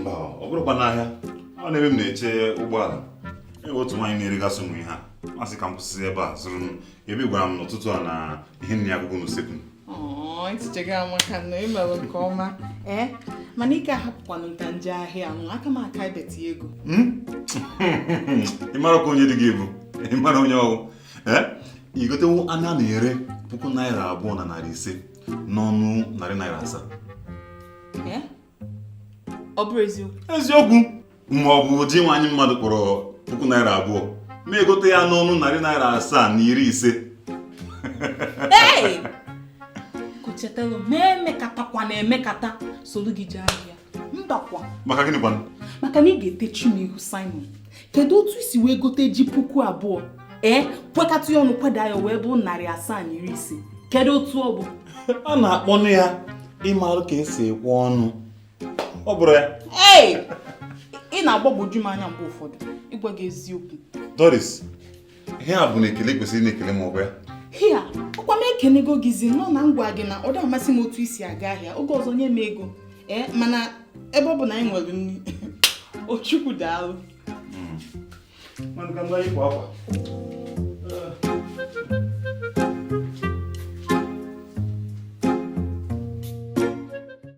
mba ọ bụrọkwa n'ahịa ọ n'ebe m na-eche ụgbọala e nwe otu nwaanyị na-eregasị ụmụ ihe a m asị ka m kwụsị ebe a zụrụ m ebe ị gwara m n'ụtụtụ a na ihe nri agwụgo n'usekwu ntịchega amaka na i melu nke ọma ee mana ị ka ahapụkwanụ m ka m je ahịa ahụ aka m aka ibeti ego hmm? ị marakwa onye di gị bụ ị mara onye ọ wụ ee i gotewo anụ a na-ere puku naira abụọ na narị ise n'ọnụ narị naira asaa ọ bụrọ eziokwu eziokwu ma ọ bụ ji nwaanyị mmadụ kpọrọ puku naira abụọ m egote ya n'ọnụ narị naira asaa na iri ise kuchetara ma emekatakwa na emekata soro gị jee ahịa mbakwa maka gịnị kwanụ maka na ị ga-etechi m ihu Simon kedu otu i si wee gote ji puku abụọ ee kwekata ya ọnụ kweda ya ọ wee bụ narị asaa na iri ise kedu otu ọ bụ a na-akpọnụ ya ịmarụ ka e si ekwe ọnụ ọ bụrọ ya ee ị na-agbagwoju m anya mgbe ụfọdụ ịgwa gị eziokwu Doris ihe a bụ na ekele i kwesịrị ịna-ekele m ọkwa ya hia ọkwa m ekenego gịzi nọ na m gwa gị na ọ dị amasị m otu i si aga ahịa oge ọzọ nye m ego ee eh, mana ebe ọ bụ na anyị nwere nri o Chukwu daalụ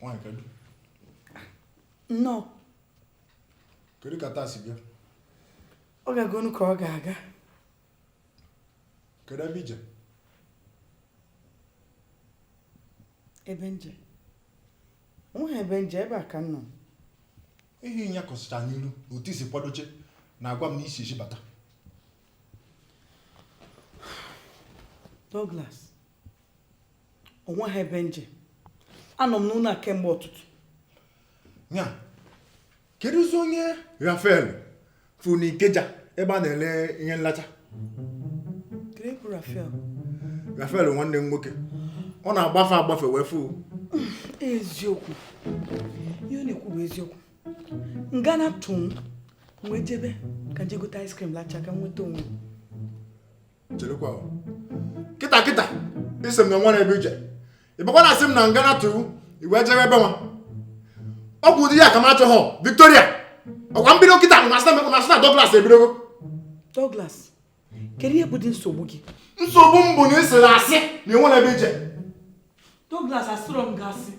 nwaanyị kedu nnọọ kedu ka taa si gaa ọ gagonụ ka ọ ga-aga kedu ebe i je ebe m je onweghị ebe m je ebe a ka m nọ ihe ị nyakọsịcha n'iru otu i si kwadocha na-agwa m na i si ezi bata Douglas onweghị ebe m je anọ m n'ụlọ a kemgbe ụtụtụ ya kedụzi onye Rafael fụrụ n'Ikeja ebe a na-ele ihe nlacha kedu Rafael Rafael nwanne m nwoke ọ na-agbafe agbafe wee fụ eziokwu ihe ọ na-ekwu bụ eziokwu ngana tụ m wee jebe ka m je gote ice cream lacha ka m nweta onwe cherekwa kịta kịta ị sị m na o nwerọ ebe i je ị bịakwa na-asị m na ngana tụ ị wee jebe ebe nwa ọ bụ ụdị ya ka m achọghọ Victoria ọkwa m bido kịta a sị na Douglas ebidogo Douglas kedu ihe bụdị nsogbu gị nsogbu m bụ na ị sịrị asị na enwere ebe i je Douglas asịrọ m gị asị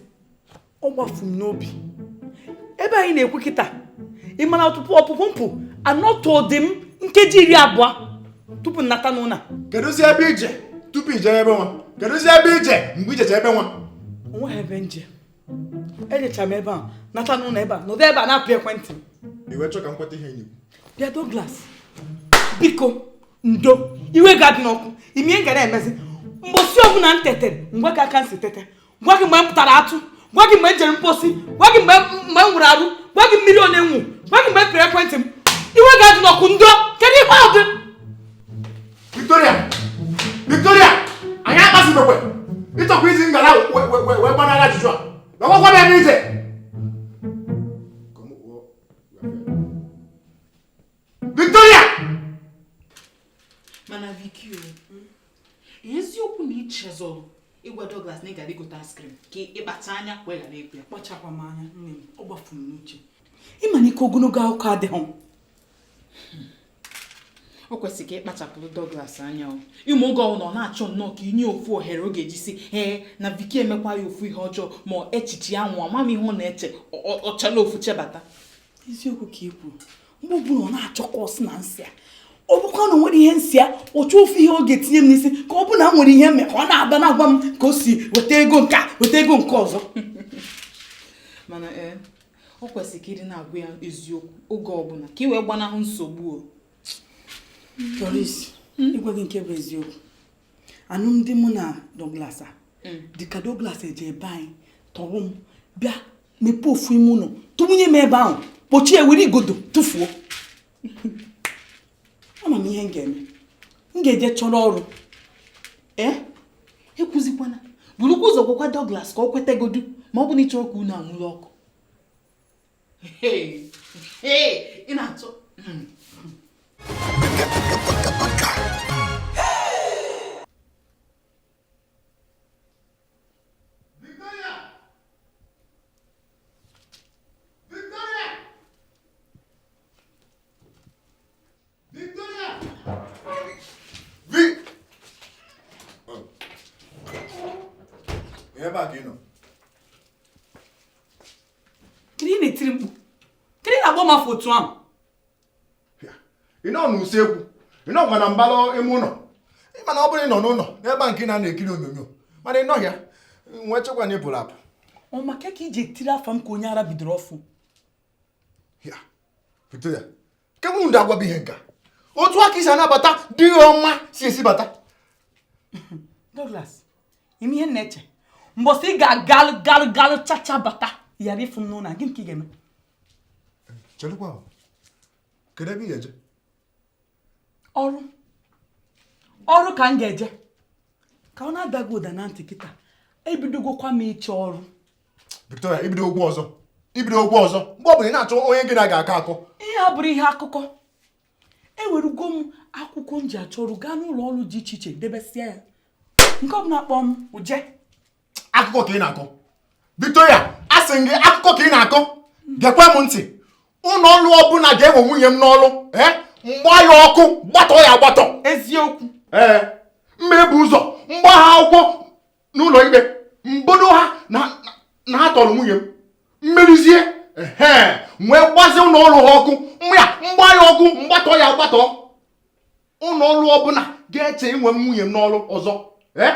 ọ gbafu m n'obi ebe anyị na-ekwu kịta ị ma na ọpụpụ m pụ anọtụdị m nkeji iri abụọ tupu m nata n'ụna kedụzi ebe i je tupu i je ebe nwa kedụzi ebe i je mgbe i jecha ebe nwa o nweghị ebe m je ejecha m ebe a nata n'ụlọ ebe a nọdụ ebe a na-apị ekwentị i wee chọọ ka m kweta ihe nyigbo bịa Douglas biko ndo iwe gị adịna ọkụ ị ma ihe m ga na-emezi mbọsị ọbụla m tetere m gwa gị ka m si tete gwa gị mgbe m tara atụ gwa gị mgbe m jere mposi gwa gị mgbe m wụrụ arụ gwa gị mmiri one m ṅụ gwa gị mgbe m pịrị ekwentị m iwe gị adịna ọkụ ndo kedu ihe ọ dị Victoria! Victoria! Ị na-akpasị m iwe! Ị chọkwa izi ngala wee gbanara ajụjụ a! Ngwa gwa m ebe i je! Victoria! Mana Vicky o, hmm? eziokwu na i chezọrọ ịgwa Douglas na ị gara igote ice cream ka ị kpacha anya wee ghara ịgwa ya. Akpachakwaghị m anya nne m, ọ gbafuru m n'uche. Ị ma na ike ogologo akụkọ adịghị o kwesịrị ka ị kpachapụrụ Douglas anya o ị ma oge ọbụla ọ na-achọ nnọọ ka i nye ofu ohere ọ ga-eji si ee na Viki emekwa ya ofu ihe ọjọọ ma echiche ya nwụọ ama m ihe ọ na-eche ọchala ofu chebata eziokwu ka ị kwuru mgbe ọbụla ọ na-achọ ka ọ sị na m sị ya ọ bụkwa na o nwere ihe m sị ya ọ chọọ ofu ihe ọ ga-etinye m n'isi ka ọ bụ na o nwere ihe m me ka ọ na-aba na-agwa m ka o si weta ego nke a weta ego nke ọzọ mana ee eh, o kwesịrị ka ị dị na-agwa ya eziokwu oge ọbụla ka ị wee gbanahụ nsogbu o Doris ịgwa gị nke bụ eziokwu anụmdi mụ na Douglas a Mm. dịka Douglas je be anyị tọrọ m bịa mepee ofu ime ụnọ tụbanye m ebe ahụ kpọchie were igodo tụfuo ama m ihe m ga-eme m ga-eje chọrọ ọrụ ee eh? ekwuzikwana burukwa ụzọ gwakwa Douglas ka o kwetagodu ma ọ bụ na ị chọrọ ka ụnọ a nwuru ọkụ ị na-atụ hmm. ebe a ka ị nọ kedu ị na-etiri mkpu kedu ị na-akpọ m afa otu ahụ ị nọ n'usekwu ị nọkwa na mbara ime ụlọ ịma na ọ bụrụ ị nọ n'ụlọ n'ebe a nke ị na-anọ ekiri onyonyo mana ị nọhọ ya m wee chekwa na ị pụrụ apụ ọ maka ka i ji etiri afa m ka onye ara bidoro ọfụ Victoria kedu ụdị agwa bụ ihe nka otu a ka i si anabata di gị ọma si ezi bata Douglas ị ma ihe m na-eche mbọsị ị ga-agalụ galụ galụ chacha bata yara ịfụ m n'ụlọ gịnị ka ị ga-eme chelụkwa kedu ebe ị ga-eje ọrụ ọrụ ka m ga-eje ka ọ na-ada gị ụda na ntị kịta ebidogokwa m ịchọ ọrụ Victoria i bidogo ọzọ i bidogo ọzọ mgbe ọ bụla ị na-achọ onye gị na ya ga-akọ akọ ihe a abụrọ ihe akụkọ ewerugo m akwụkwọ m ji achọ ọrụ gaa n'ụlọ ọrụ dị iche iche debesịa ya nke ọbụla kpọọ m mụ eje akụkọ ka ị na-akọ Victoria asị m gị akụkọ ka ị na-akọ gekwa m ntị ụlọ ọrụ ọbụla ga-ewe nwunye m n'ọrụ ee eh? m gbaa ya ọkụ gbatọ ya agbatọ eziokwu ee eh, m ma ebu ụzọ m gbaa ha akwụkwọ n'ụlọ ikpe m bodo ha na ha tọrọ nwunye m m merizie ee wee gbazi ụlọ ọrụ ha ọkụ mma ya m gbaa ya ọkụ m gbatọ ya agbatọ ụlọ ọrụ ọbụla ga-eche iwe nwunye m n'ọrụ ọzọ ee eh?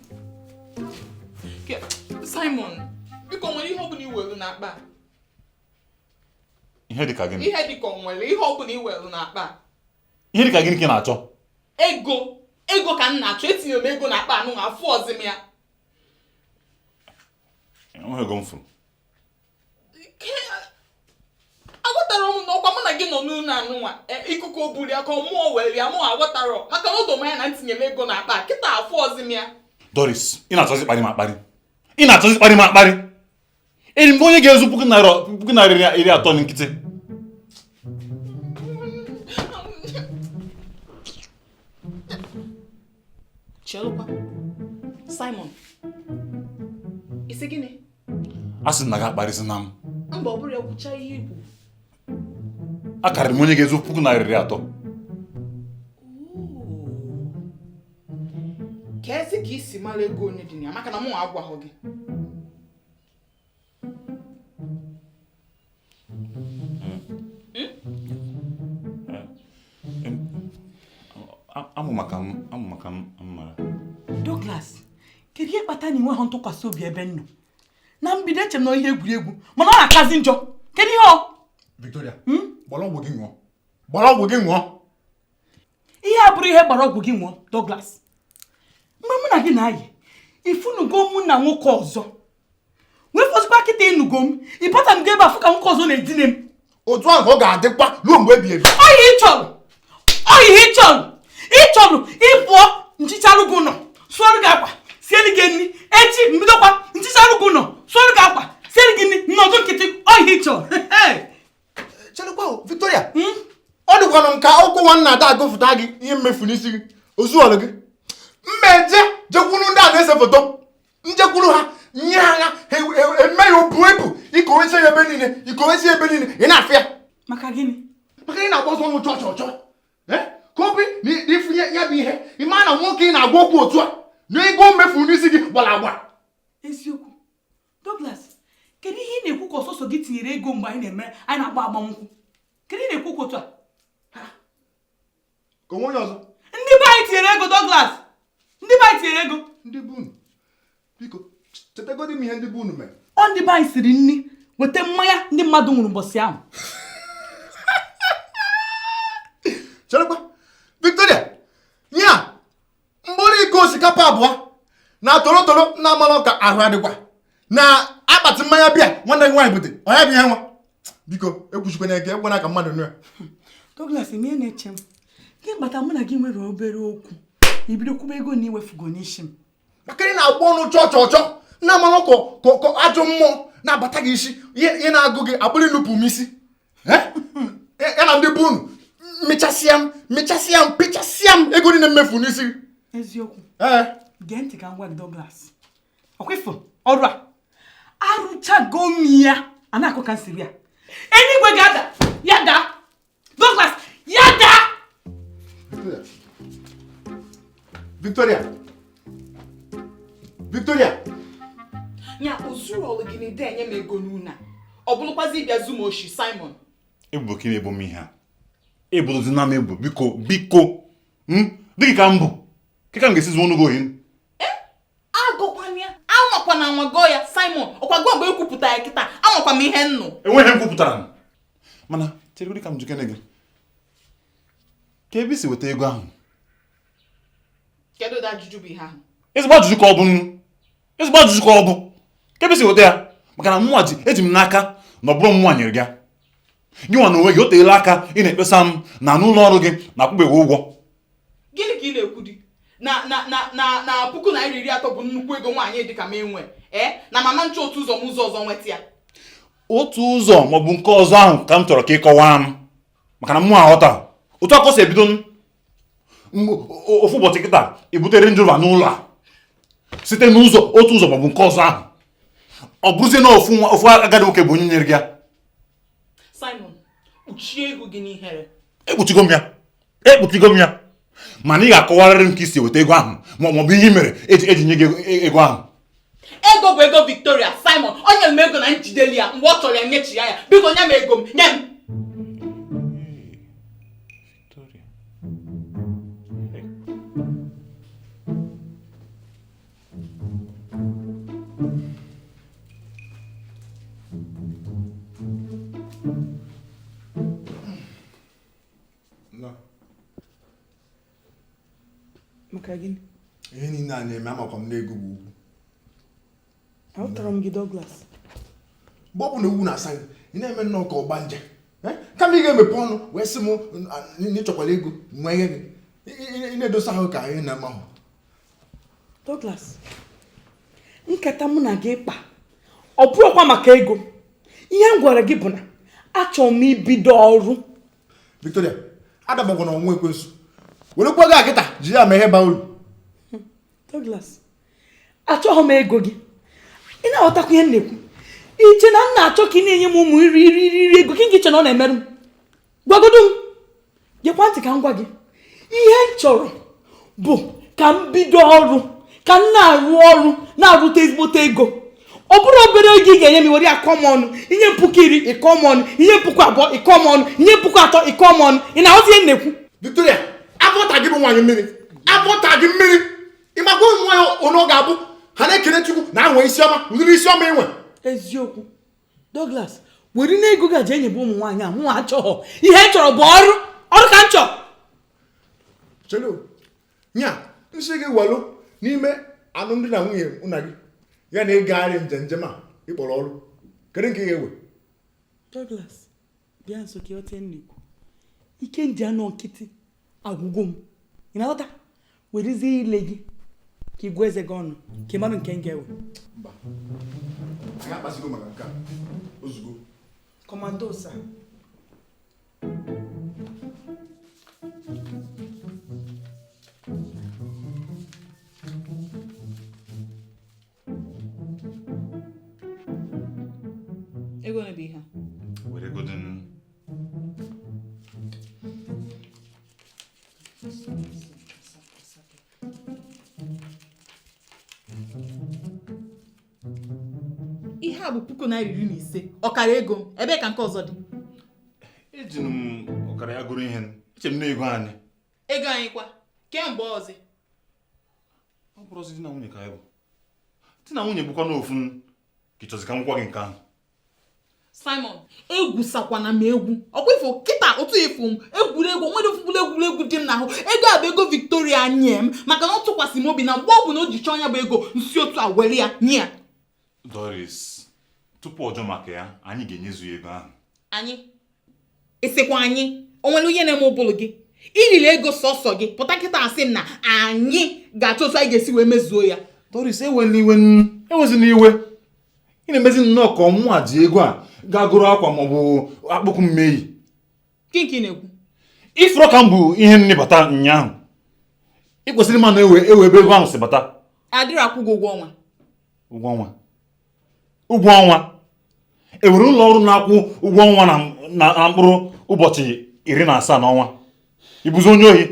Simon biko o nwere ihe ọbụla i welu n'akpa ihe dịka gịnị ihe dịka o nwere ihe ọbụla i welu n'akpa ihe dịka gịnị ka ị na-achọ ego ego ka m na-achọ etinye m ego n'akpa anụ afụhọzi m ya enweghị ego m fụrụ aghọtarọ m na ọkwa mụ na gị nọ n'ụlọ anụnwa e, ikuku o bulu ya ka mụọ were ya mụ aghọtarọ maka na o do m anya na etinye m ego na akpa kịta afụhọzi m ya Doris ị na-achọzi ịkparị m akparị ị na-achọzi ịkparị m akparị eyiri m onye ga-ezu puku naira iri atọ nkịtị Chelụkwa Simon ị sị gịnị asị m na gị akparịzịna m mba ọ bụrụ ya kwucha ihe ị kwu akarịrị m onye ga-ezu puku naira iri atọ keezi ka i si mara ego one dị na ya maka na mụ agwaghị gị amụma ka m amụma ka m mara Douglas kedu ihe kpata na i nweghị ntụkwasị obi ebe m nọ na mbido eche m na ọ ihe egwuregwu mana ọ na-akazi njọ kedu ihe ọ Victoria hmm? gbara ọgwụ gị ṅụọ gbara ọgwụ gị ṅụọ ihe a abụrọ ihe gbara ọgwụ gị ṅụọ Douglas mgbe mụ na gị na-ayị ị fụnugo mụ na nwoke ọzọ wee fọzikwa kịta ị nụgo m ị bata m ga ebe afụ ka nwoke ọzọ na-edine m otu ahụ ọ ga-adịkwa ruo mgbe ebi ebi ọ ihe ị chọrọ ọ ihe ị chọrọ ị chọrọ ị pụọ m hichaarụ gị ụlọ sụọrụ gị akwa siere gị nri echi m bidokwa m hichaarụ gị ụlọ sụọrụ gị akwa siere gị nri m nọdụ nkịtị ọ ihe ị chọrọ chelekwa Victoria hmm? ọ dịkwanụ m ka akwụkwọ nwanna ada agụfụta gị ihe m mefu n'isi gị o zuolụ gị m eje jekwuru ndị a na-ese foto m jekwuru ha nye ha ya emee ya o buo ibu i kowezie ebe niile i kowezie ebe niile ị na-afụ ya maka gịnị maka ị na-agba sọ ọnụ chọọ chọọ chọọ eh? ka ọ bụ na ị fụ ya bụ ihe ị ma na nwoke ị na-agwa okwu otu a na ego m mefu n'isi gị gbara agba eziokwu Douglas kedu ihe ị na-ekwu ka ọ sọsọ gị tinyere ego mgbe anyị na-eme anyị na-agba agbamnkwụ kedu ihe ị na-ekwu ka otu a ka o nwe onye ọzọ ndị be anyị tinyere ego Douglas ndị be anyị tinyere ego ndị be unu biko chetegodi m ihe ndị be unu mere ọ ndị be anyị siri nri weta mmanya ndị mmadụ ṅụrụ ụbọchị ahụ cherekwa Victoria nya mkpụrụ iko osikapa abụọ na torotoro na amalụ ka ahụ adịkwa na akpati mmanya beer nwanne gị nwaanyị bute ọ nya bụ ihe nwa biko ekwusikwana ike ekwekwana ka mmadụ nụ ya Douglas ihe na-eche m gị bata mụ na gị nwere obere okwu i bido kwube ego na i mefugo n'isi m maka ị na-agba ọnụ chọọ chọọ chọọ na amalụ ka ajọ mmụọ na-abata gị isi ihe na-agụ gị abụrụ inupụ m isi ya na ndị be unu mechasịa m mechasịa m pịchasịa m ego niile m mefu n'isi eziokwu ee gee ntị ka m gwa gị Douglas ọkwa ị fụ ọrụ a arụchago m ya a na-akọ ka m siri ya eluigwe ga-ada ya daa Douglas ya daa Victoria Victoria ya o zurọlụ gị na ị da enye m ego n'ụnọ a ọ bụrụkwazi ị bịa zuo m oshi Simon ebubo ka ị na-ebo m ihe a ebozina m ebubo biko biko hmm? di gị ka m bụ kee ka m ga-esi zuonụ gị ohi eh? agọkwana ya anwakwana anwa gọọ ya Simon ọkwa gị ekwupụta ya kịta amakwa m ihe m nụ enweghị ihe m kwupụtara mana cheregodi ka m jụkene gị kee ebe i si weta ego ahụ ezigbo ajụjụ ka ọ bụ nnọọ ezigbo ajụjụ ka ọ bụ kee ebe i si weta ya maka na mụnwa ji eji m n'aka na ọ bụrọ mụnwa nyere gị gị nwa na onwe gị o teela aka ị na-ekpesa m na n'ụlọ ọrụ gị na akwụbeghị ụgwọ gịnị ka ị na-ekwu di na na na na na puku naira iri atọ bụ nnukwu ego nwaanyị dị ka m enwe ee eh? na m ama eche otu ụzọ ma ụzọ ọzọ nweta ya otu ụzọ maọbụ nke ọzọ ahụ ka m chọrọ ka ị kọwaa m maka na mụ aghọta otu a ka o si ebido m ofu ụbọchị kịta ebutere njọ ba n'ụlọ a site n'ụzọ otu ụzọ maọbụ nke ọzọ ahụ ọ bụrụzie na ofu ofu agadi nwoke bụ onye nyere gị ya Simon kpuchie ihu gị n'ihere ekpuchigo m ya ekpuchigo m ya mana ị ga-akọwarịrị m ka i si weta ego ahụ ma ọ bụ ihe mere eji eji nye gị e, ego ahụ ego bụ ego Victoria Simon o nyere m ego na m jideli ya mgbe ọ chọrọ ya nyechi ya ya biko nye m ego m nye m Victoria. maka gịnị ihe niile a na-eme amakwa m na ego bụ ugwu ahụtara m gị Douglas mgbe ọ bụna owu na-asa gị ị na-eme nnọọ ka ọgbanje eh? kama ị ga-emepe ọnụ wee sị m na ị chọkwala ego nwa ihe gị ị na-edosa ahụ ka anyị na-amahụ Douglas nkata mụ na gị kpa ọ bụrọkwa maka ego ihe m gwara gị bụ na achọrọ m ibido ọrụ Victoria adabakwana ọnwa ekwensu werekwa ego a kịta ji ya mee ihe baa uru Douglas achọghị m ego gị ị na-aghọtakwa ihe m na-ekwu i che na m na-achọ ka ị na-enye m ụmụ irighiri irighiri ego gị nke i che na ọ na-emerụ m gwagodo m gekwa ntị ka m gwa gị ihe m chọrọ bụ ka m bido ọrụ ka m na-arụ ọrụ na-arụta ezigbote ego ọ bụrọ obere ego ị ga-enye m were akọ m ọnụ inye m puku iri ịkọ m ọnụ inye m puku abụọ ịkọ m ọnụ inye m puku atọ ịkọ m ọnụ ị na-aghọta ihe m na-ekwu Victoria abọta gị bụ nwaanyị mmiri abọta gị mmiri ị makwa ụmụ nwaanyị onye ọ ga-abụ ha na-ekele chukwu na ha nwe isi ọma ụdịrị isi ọma i nwe eziokwu Douglas were na ego gị a jee nyebe ụmụ nwaanyị a mụnwa achọghọ ihe m chọrọ bụ ọrụ ọrụ ka m chọrọ chelo nya m sị gị walụ n'ime alụmdi na nwunye mụ na gị ya na ịgagharị njem njem a ị kpọrọ ọrụ kedu nke ị ga-ewe Douglas bịa nso ka ị ghọta ihe m na-ekwu ike m ji anọ nkịtị agwụgo m ị na-aghọta werezie ile gị ka ị gụọ eze gị ọnụ ka ị mara nke m ga-ewe mba anyị akpasigo maka nke a ozugbo Commando sir ego na bụ ihe were ego dị ihe a bụ puku naira iri na ise ọkara ego ebe ka nke ọzọ dị eji m ọkara ya gọrọ ihe eche m na ego anyị ego anyị kwa kemgbe ọzọ ọ bụrọzi di na nwunye ka anyị bụ di na nwunye bụkwanụ ofu ka ị chọzi ka m gwa gị nke ahụ Simon egwusakwana m egwu ọkwa ị fụ kịta otu ị fụ m egwuregwu nwerọ ofu mkpụlụ egwuregwu dị m n'ahụ ego a bụ ego Victoria nye m maka na ọ tụkwasị m obi na mgbe ọ bụna o ji chọọ ya bụ ego m si otu a were ya nye ya Doris, tupu ọ jụọ maka ya, anyị ga-enyezu ya ego ahụ. Anyị? Ị sịkwa anyị, o nwere ihe na-eme ụbụrụ gị? I riri ego sọsọ gị, pụta kịta sị m na anyị ga-achọ otu anyị ga-esi wee mezuo ya. Doris, ewena iwe ewezina iwe. Ị na-emezi nnọọ ka ọ mụnwa ji ego a gaa gọrọ akwa maọbụ akpụkwụ m ya-eyi. Gịnị ka ị na-ekwu? Ị fụrụ ka m bu ihe nni bata ụnyaahụ. Ị kwesịrị ịma na e nwere ebe ego ahụ si bata. Adịrọ akwụ gị ụgwọ ọnwa. Ụgwọ ọnwa. Ụgwọ ọnwa. E nwere ụlọ ọrụ na-akwụ ụgwọ ọnwa na mkpụrụ ụbọchị iri na asaa n'ọnwa. Ị bụzi onye ohi.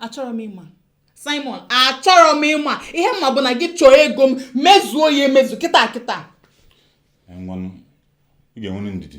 Achọrọ m ịma. Simon, achọrọ m ịma. Ihe m ma bụ na gị chọọ ego m mezuo ya emezu kịta kịta. Ngwanụ, ị ga-enwe ndidi.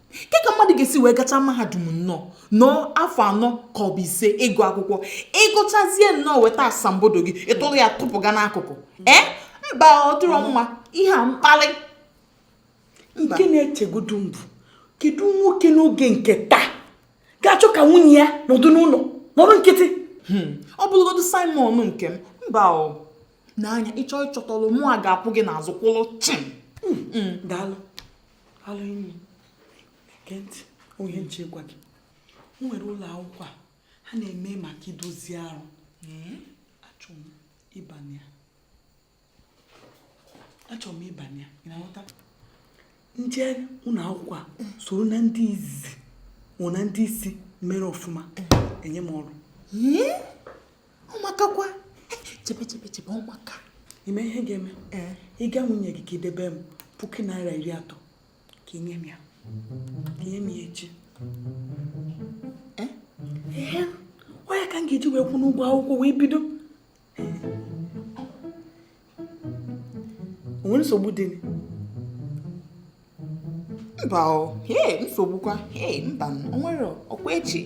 ke ka mmadụ ga-esi wee gacha mahadum nnọọ nọọ afọ anọ ka ọ bụ ise ịgụ akwụkwọ ị gụchazie nnọọ weta asambodo gị ị tụrụ ya tụpụga n'akụkụ ee mba ọ dịrọ mma ihe a mkpalị nke na-echegodu mbụ kedu nwoke n'oge nke taa ga-achọ ka nwunye ya nọdụ n'ụlọ nọrọ nkịtị hmm. ọ bụrụgodu Simon nke m mba ọ n'anya ị chọọ ịchọta ọrụ mụa ga-akwụ gị n'azụ kwụrụ chịm hmm. Hmm. daalụ alụ enyi gee ntị o nwee ihe m chọ ịgwa gị e nwere ụlọ akwụkwọ a ha na-eme maka idozi arụ achọrọ m ịbanye ya achọrọ m ịbanye ya ị na-aghọta ndị ụlọ akwụkwọ a soro na ndị izizi nwụ na ndị isi mere ọfụma enye m ọrụ ọ makakwa chebe chebe chebe ọ maka ị ma ihe ga-eme ee ịga nwunye gị ka i debe m puku naira iri atọ ka i nye m ya ka i nye m ya echi ee ọ ya ka m ga-eji wee kwụnụ ụgwọ akwụkwọ wee bido o nwere nsogbu dị mba nsogbukwa mba o nwere ọkwa echi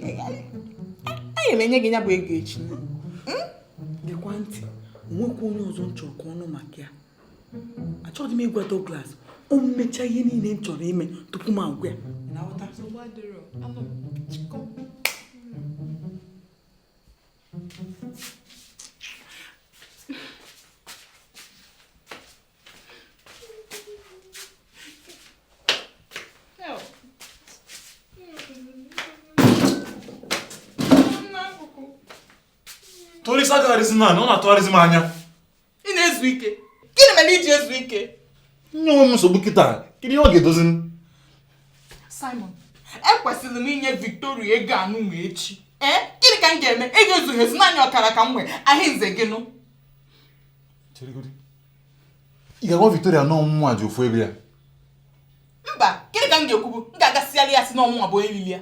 aya m enye gị ya bụ ego echi hmm? gekwa ntị o nwekwa onye ọzọ m chọrọ ka ọ nụ maka ya achọghị m ịgwa Douglas ọ m mechaa ihe niile m chọrọ ime tupu m agwa ya Tori sa ka arizin na, no na to arizin ma anya. ị na-ezu ike gịnị mere i ji ezu ike inye onwe m nsogbu kịta kedu ihe ọ ga-edozi Simon ekwesịrị m inye Victoria ego anụnwa echi ee eh? gịnị ka m ga-eme ego ezughị ezu naanị ọkara ka m nwee a ya-emezi gịnụ ị ga-agwa Victoria na ọ mụnwa ji ofu ego ya mba gịnị ka m ga-ekwubu m ga-aga sịarị ya asị na ọ mụnwa bụ onye lili ya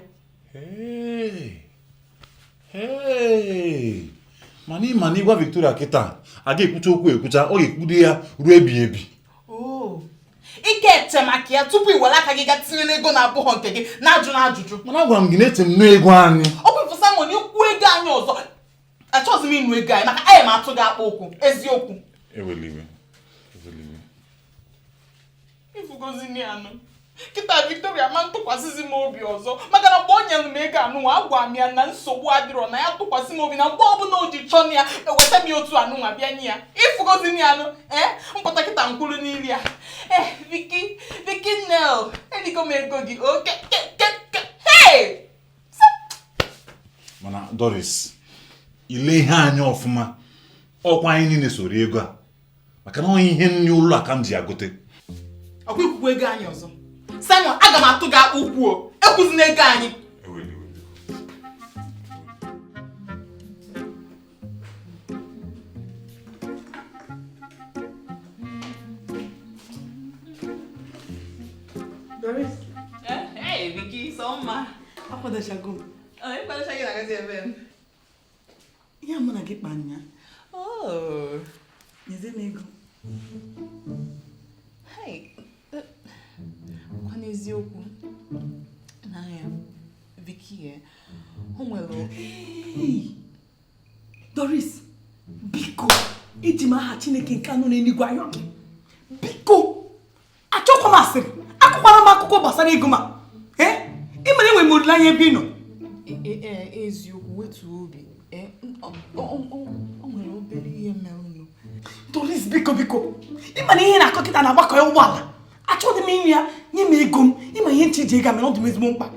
mana ị ma na ị gwa Victoria kịta a ga-ekwucha okwu ekwucha ọ ga-ekwude ya ruo ebighị ebi ị ka eche maka ya tupu ị were aka gị gaa tinye n'ego na-abụghọ nke gị na-ajụ na ajụjụ mana agwara m gị na eche m na ego anyị ọ bụ Simon i kwuo ego anyị ọzọ achọghịzi m ịnụ ego anyị maka aga m atụ gị akpụ ụkwụ eziokwu ị fụgozi nya nụ kịta Victoria ama atụkwasịzi m obi ọzọ maka na mgbe o nyere m ego anụnwa agwa m ya na nsogbu adịrọ na ya tụkwasị m obi na mgbe ọbụla o ji chọọ nya eweta m ya otu anụnwa bịa nye ya ị fụgozi nya nụ ee m pụta kịta m kwụlụ n'iru ya ee eh, Vicky Vicky na eligo m ego gị okay mana Doris i lee ihe anya ọfụma ọkwa anyị niile so rie ego a maka na ọ ihe nri ụlọ a ka m ji ya gote ọkwa i kwukwaa ego anyị ọzọ Simon aga m atụ gị akpụ ụkwụ o ekwuzina ego anyị Doris. Eh, hey, Vicky, so mma. Akwadochago m. Ọ ịkwadocha gị na-agazi ebee. ihe mụ na gị kpa nyaa oh. nyezi m ego kwa n'eziokwu na ya Vicky o nwere doris biko iji m aha chineke nke nọ n'eluigwe ayọ gị biko achọkwa m asịrị akọkwara m akụkọ gbasara ego m a eh? ị mara enwere m olileanya ebe ị nọ e, e, e, eziokwu wetu obi o nwere obere ihe merenụ doris biko biko ị ma na ihe ị na-akọ kịta na-agbakọ ya ụgbọala achọghị m ịnụ ya nye m ego m ị ma ihe m chọ iji ego mee ọ dị m ezigbo mkpa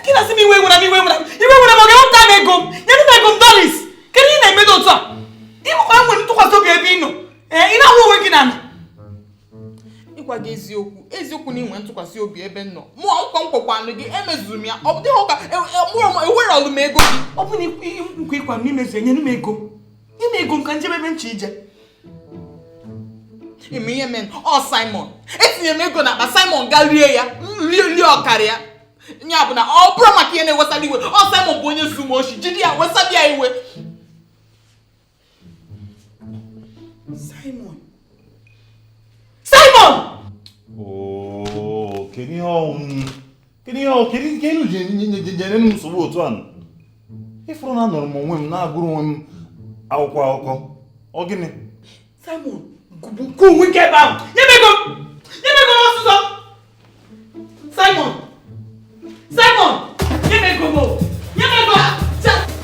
gị na-asị m iwe were m iwe were m iwe were m ọ ga-ewepụta m ego m nyere m ego m doris kedu ihe na-emedụ otu a dị m kwa nwere ntụkwasị obi ebe ị nọ ee ị na-ahụ onwe gị na ala ịgwa gị eziokwu eziokwu na i nwe ntụkwasị obi ebe m nọ mụ nkwa m kwakwanụ gị emezuru m ya ọ dịghị ụka ewere ọlụ m ego gị ọ bụ na nkwa ị kwa m i mezue nyere m ego nye m ego m ka m jebe ebe m che ije ime ihe mee ọ simon etinye m ego n'akpa simon gaa rie ya rie rie ọkara ya ya bụ na ọ bụrụ maka ihe na-ewesara iwe ọ simon bụ onye zu m oshi jide ya wesara ya iwe simon simon oh, kedu ihe ọnwụ kedu ihe ọ- kedu nke unu ji nye- nye- nye- nyere m nsogbu otu a ị fụrụ na anọrọ m onwe m na-agụrụ onwe m akwụkwọ akụkọ ọ gịnị Simon, gụgbuo onwe gị ebe ahụ. Nye m ego m! Nye m ego m ọsịsọ! Simon! Simon! Nye m ego m! Nye m ego m!